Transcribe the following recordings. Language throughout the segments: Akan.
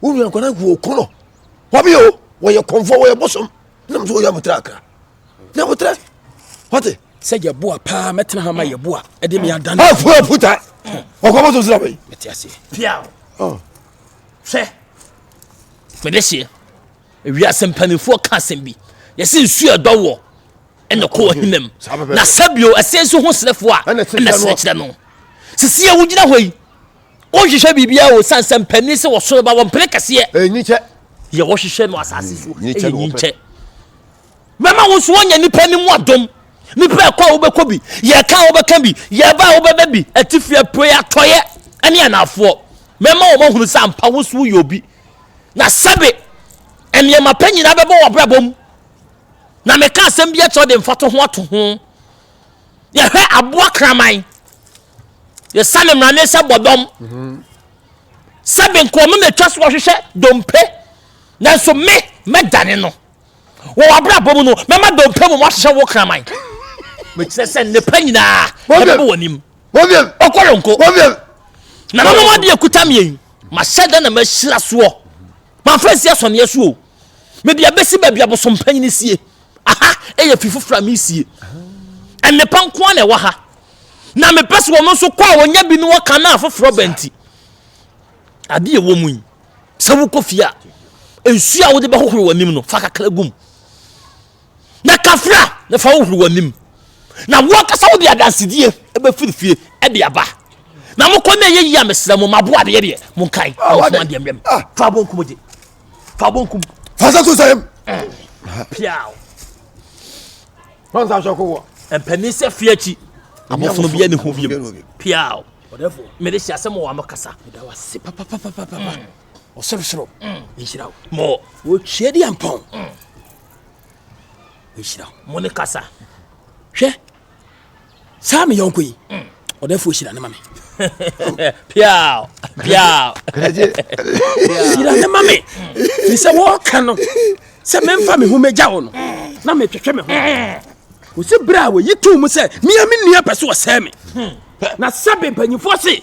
wo nua nkwadaa nkuo ɔko no wɔbi o wɔyɛ kɔnfoɔ wɔyɛ bosom nam sɛ wɔyɛ abotire akra na abotire wɔte sɛ yɛ boa paa mɛtena ha ma yɛ boa ɛde me adane afu afuta ɔkɔ bɔtɔ sira bɛyi mɛte aseɛ pia o hwɛ mede hyeɛ wiase mpanimfoɔ ka asɛm bi yɛsɛ nsuo ɛdɔ wɔ ɛna kɔ ɔhenam na sɛbio ɛsɛ nso ho serɛfoɔ a ɛna serɛkyerɛ no sisi a wogyina hɔ yi Wonhwehwɛ biribiara wɔ osiane sɛ mpanin sɛ wɔsoro ba wɔ mpene kɛseɛ. Ɛnyikyɛ. Yɛ wɔhwehwɛ no asase so ɛyɛ nyikyɛ. Mɛma wo nso woanya nipa no mu adom. Nipa ɛkɔ a wobɛkɔ bi, yɛka a wobɛka bi, yɛba a wobɛba bi, atifi apue atɔeɛ ɛne anaafoɔ. Mɛma wɔn ahunu sɛ ampa wo nso woyɛ obi. Na sɛbe nneɛma pa nyinaa bɛbɔ wɔ abrabɔ mu. Na meka asɛm bi akyerɛ de mfato ho ato ho. Yɛhwɛ aboa kraman. yɛsane mmara ne sɛ bɔdɔm sɛ me nkoa me mɛtwa so ɔhwehwɛ dompe nanso me mɛdane no wɔ w'abrabɔ mu no mɛma dompe mu moahyehyɛ wo kraman mekyerɛ sɛ nnepa nyinaa ɛbɛbɔ w'anim ɔkɔlonko nananom adeɛ kuta mmiɛn mahyɛ da na mahyira soɔ Mamfa ansi asɔneɛ so o. Mede abɛsi baabi abosompanyin sie. Aha yɛ fi foforɔ a meresie. Nnepa nko ara na ɛwɔ ha. Na mepɛ sɛ wɔn nso kɔ a wɔnya bi ne wɔka na afoforɔ ba nti. Adeɛ ɛwɔ mu yi, sɛ wokɔ fie a, nsuo a wode bɛhohoro w'anim no, fa kakra gum. na kafra na fa wohoro w'anim na woankasa wode adansedie bɛfiri fie de aba na mokɔ na ɛyɛ yie a mesrɛ mo maboa adeɛ deɛ monkae na mofoma deɛ mmrɛm fa bonkum gye fa bonkum fa sɛ so sɛm piaw ɔnsa sɔko wɔ mpanin sɛ fie akyi abɔfono bia ne ho biam piaw mede hyɛ asɛm wɔ ano kasa meda wase papapapapapa ɔsorosoro nhyira wo mɔ wɔtwie de ampɔn ɔhyira mo ne kasa hwɛ saa me yɔnko yi mm. ɔdɛfoɔ hyira ne ma me piaw piaw hyira ne ma me firi sɛ wɔɔka no sɛ memfa me ho mɛgya wo no na metwetwe me ho ɔsi berɛ a wɔyi too mu sɛ mea me nua pɛ so ɔsɛe me na sɛbe mpanyifoɔ se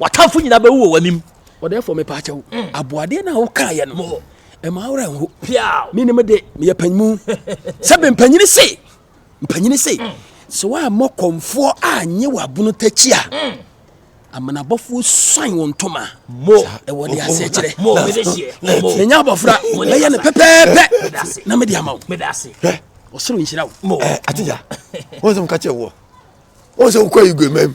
W'atamfo nyinaa bɛwu wɔ w'anim. Ɔdɛɛfoɔ me paakyɛ wo. Mm. Aboadeɛ no a wokaeɛ no. Mo. Ɛma awora nho. Piaw. Me ne mo de meyɛ panyimu. Sɛ bɛ mpanyini se. Mpanyini se. Mm. Sɛ woammɔ kɔmfoɔ anye w'abono takyi a. Mm. Amanabɔfoɔ suan wɔn ntoma. Mo. Ɛwɔ de aseɛ kyerɛ. Mo. Menya abɔfra. Mɛyɛ no pɛpɛɛpɛ. Na mede ama wo. Ɔsoro nhyira wo. Mo. Atija. Wɔn sɛ mo ka kyerɛ wɔ. Wɔn sɛ wokɔ yi gu mmam.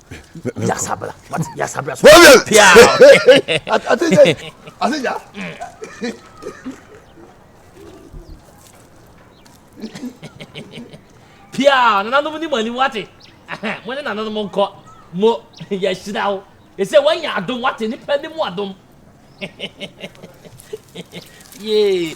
Yasabla. What? Yasabla. So pia. I think that. I think that. Pia, nananom ni mani wate. Mo ne nananom nkɔ. Mo yɛhyira wo. Ɛsɛ wɔnyɛ adom wate nipa ne mu adom. Yee.